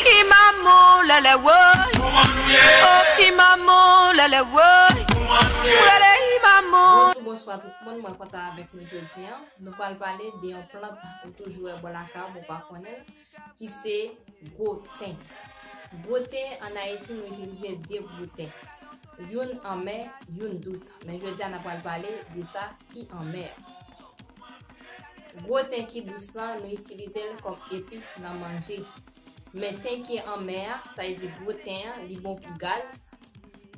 Ki manmou lèlè woy Pou man nou ye Oh ki manmou lèlè woy Pou man nou ye M rele hi manmou Bonjou bonswa tout moun mwen kontan avèk nou jodi an nou pral pale de yon plant ou toujou wè bò lakay ou men w pa konnen l ki se gwo ten gwo ten an ayiti nou itilize 2 gwo ten youn anmè youn dous men jodi a n ap pral pale de sa ki anmè a. Gwo ten ki dous lan nou itilize l kòm epis nan manje. Men ten ki anmè a, sa vle di gwo ten an, li bon pou gaz,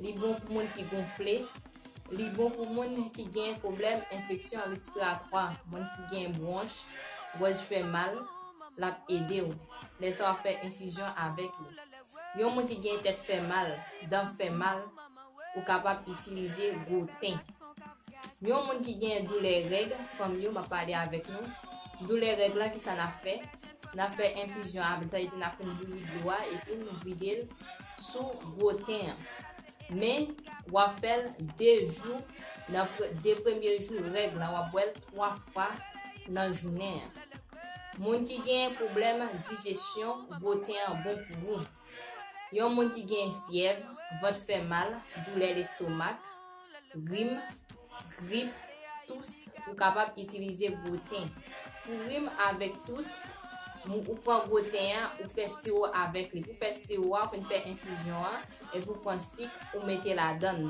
li bon pou moun ki gonfle, li bon pou moun ki gen pwoblèm enfeksyon respiratwa, moun ki gen bwonch, gòj fè mal, l ap ede w. Lè sa w ap fè enfizyon avèk li. Yon moun ki gen tèt fè mal, dan fè mal, ou kapab itilize gwo ten. Yon moun ki gen doulè règ, fanm yo map pale avèk nou, doulè règ lan kisa nap fè, nap fè enfizyon avèl sa vle di nap fin bouyi dlo a epi nou videl sou gwo ten an men wap fèl 2 jou nan 2 premye jou règ lan wap bwèl 3 fwa nan jounen an. Moun ki genyen pwoblèm dijesyon, gwo ten an bon pou ou. Yon moun ki genyen fyèv, vant fè mal, doulè lestomak, rim, grip, tous, ou kapab itilize gwo ten. Pou rim avèk tous, mou ou pran gwo ten an, ou fè siwo avèk li. Pou fè siwo a, ou fè enfizyon an, epi ou pran sik, ou mete ladann.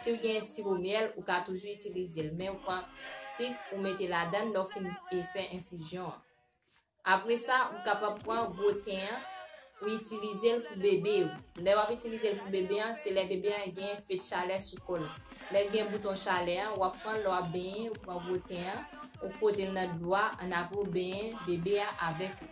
Si w gen siwo myèl, ou ka toujou itilize l, men ou pran sik ou mete ladann lè w fin fè enfizyon an. Apre sa, ou kapab pran gwo ten an pou itilize l pou bebe ou. Lè w ap itilize l pou bebe an, se lè bebe an gen fed chalè sou kò l. Lè l gen bouton chalè an, w ap pran l lè w ap benyen, ou pran gwo ten an, ou fwote l nan dlo a, annapre ou benyen bebe a avèk li.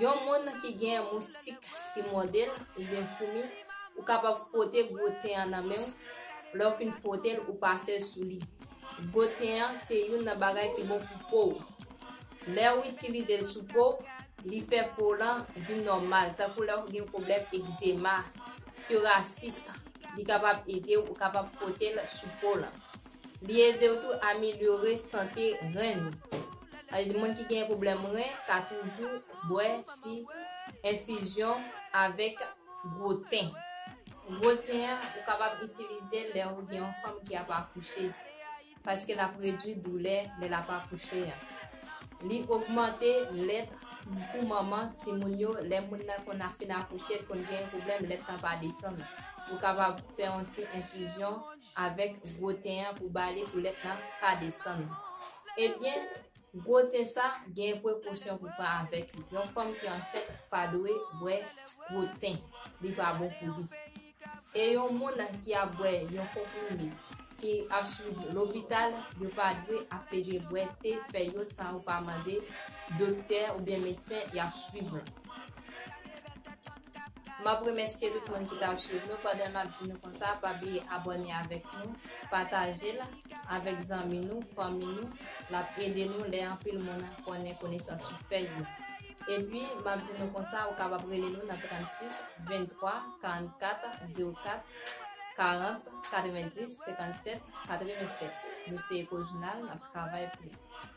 Yon moun ki gen moustik ki mòde l oubyen foumi, ou kapab fwote gwo ten an nan men w, lè w fin fwote l ou pase l sou li. Gwo ten an se youn nan bagay ki bon pou po w. Lè w itilize l sou po, li fè po w lan vin nòmal tankou lè w gen pwoblèm egzema, sorasis, li kapab ede w, ou kapab fwote l sou po w lan. Li ede w tou amelyore sante ren ou. Sa vle di moun ki gen pwoblèm ren ka toujou bwè ti enfizyon avèk gwo ten. Gwo ten an ou kapab itilize l lè ou gen yon fanm ki ap akouche paske l ap redui doulè lè l ap akouche an. Li ogmante lèt pou manman timoun yo lè moun nan konn ap fin akouche, l konn gen pwoblèm lèt lan pa desann. Ou kapab fè yon ti enfizyon Avèk gwo ten an pou bale pou lèt la pa desann. Ebyen, gwo te sa gen prekosyon pou pran avèk li. Yon fanm ki ansent pa dwe bwè gwo ten. Li pa bon pou li. E yon moun ki ap bwè yon konprime, ki ap swiv lopital, yo pa dwe ap pede bwè te fèy yo san yo pa mande doktè oubyen medsen y ap swiv lan. Map remèsye tout moun ki tap swiv nou pandan nap di nou konsa pa bliye abòne avèk nou patajel avèk zanmi nou fanmi nou lap ede nou lè anpil moun konnen konesans yo fè yo epi map di nou konsa ou kapab rele nou nan 36 23 44 04 40 90 57 87 nou se Eko jounal nap travay pou.